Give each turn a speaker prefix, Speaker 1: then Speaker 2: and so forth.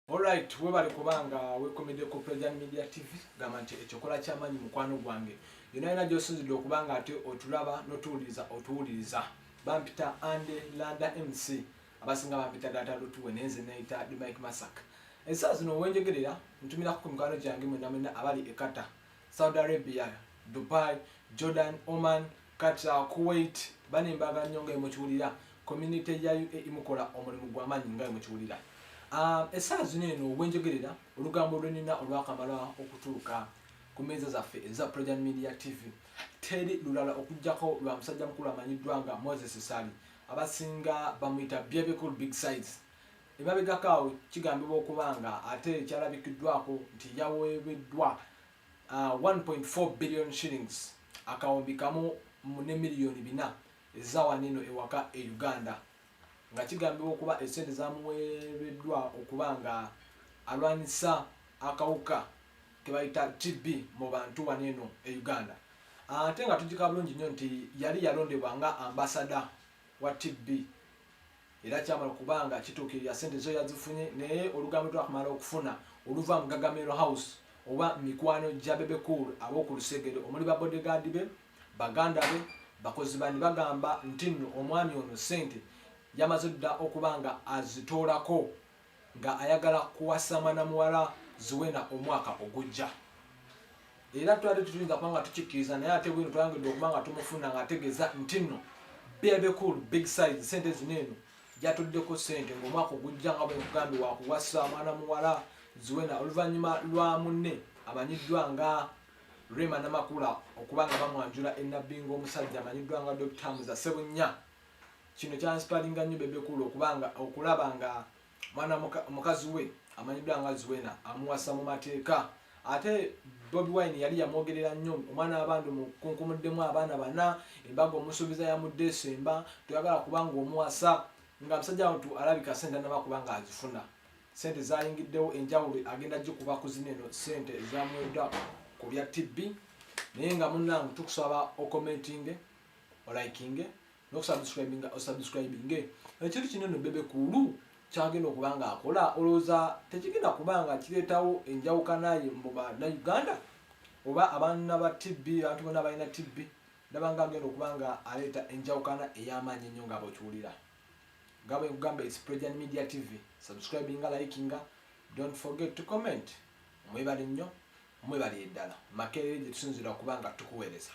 Speaker 1: Alright, webale kubanga wekomede ku President Media TV gamba nti ekyokola kyamanyi mukwano gwange yona yona gyosinzidde okubanga ate otulaba notuwuliriza otuwuliriza bampita ande landa mc abasinga bampita data lutuwe nenze neyita di mike masak ensaa zino wenjogerera ntumirako ku mikwano gyange mwena mwena abali ekata Saudi Arabia, Dubai, Jordan, Oman, Qatar, Kuwait bane mbaga nnyo nga emukiwulira community ya UAE mukola omulimu gwa maanyi nga emukiwulira ah, esaawa zino eno obwenjogerera olugambo lwenina olwakamala okutuuka ku meeza zaffe eza Projan Media TV teri lulala okujjako lwa musajja mukulu amanyiddwa nga Moses Sali abasinga bamuyita Bebe Cool Big Size Emabegako awo kigambibwa okuba nga ate kyalabikiddwako nti yaweebeddwa uh, 1.4 billion shillings akawumbi kamu ne miliyoni bina ezawanino ewaka e Uganda nga kigambibwa okuba esente zamuweereddwa okuba nga alwanyisa akawuka kebayita TB mu bantu wano eno e Uganda ate nga tujika bulungi nnyo nti yali yalondebwa nga ambasada wa TB era kyamala kubanga kituukirira sente zo yazifunye naye olugambo twakumala okufuna oluva mu gagamiro house oba mikwano gya bebe cool ab'oku lusegere omuli babodegaadi be baganda be bakozi bani bagamba nti nno omwami ono sente yamaze dda okuba nga azitoolako nga ayagala kuwasama na muwala Zuena omwaka ogujja era twali tetuyinza kuba nga tukikkiriza naye ate bwino twayongedde okuba nga tumufuna ng'ategeeza nti nno bebekul big size sente zino eno gyatuddeko sente ng'omwaka ogujja nga bwenkugambye wakuwasa mwana muwala ziwena oluvannyuma lwa munne amanyiddwa nga rema namakula okuba nga bamwanjula enabbinga omusajja amanyiddwa nga dokita muza sebunnya kino kyansipalinga nnyo bebe kulu okubanga okulaba nga mwana mukazi we amanyiddwa nga zuwena amuwasa mu mateeka ate bobi wine yali yamwogerera nnyo omwana wabantu mukunkumuddemu abaana bana embaga omusuubiza yamudde esemba toyagala kubanga omuwasa nga musajja wantu alabika sente anaba kubanga azifuna sente zayingiddewo enjawulo agenda gikuba kuzina eno sente ezamwedda ku bya tibbi naye nga munange tukusaba okomentinge olikinge nokusubscribinga osubscribinge ekintu kino no bebe kulu kyagenda okuba nga akola olowooza tekigenda kuba nga kireetawo enjawukanaye mu banauganda oba abaana ba tb abantu bona balina tb nabanga agenda okuba nga aleeta enjawukana ey'amaanyi ennyo nga bwekiwulira nga bwe nkugamba its prejan media tv subscribinga likinga don't forget to comment mwebale nnyo mwebale eddala makerere gye tusinzira okuba nga tukuweereza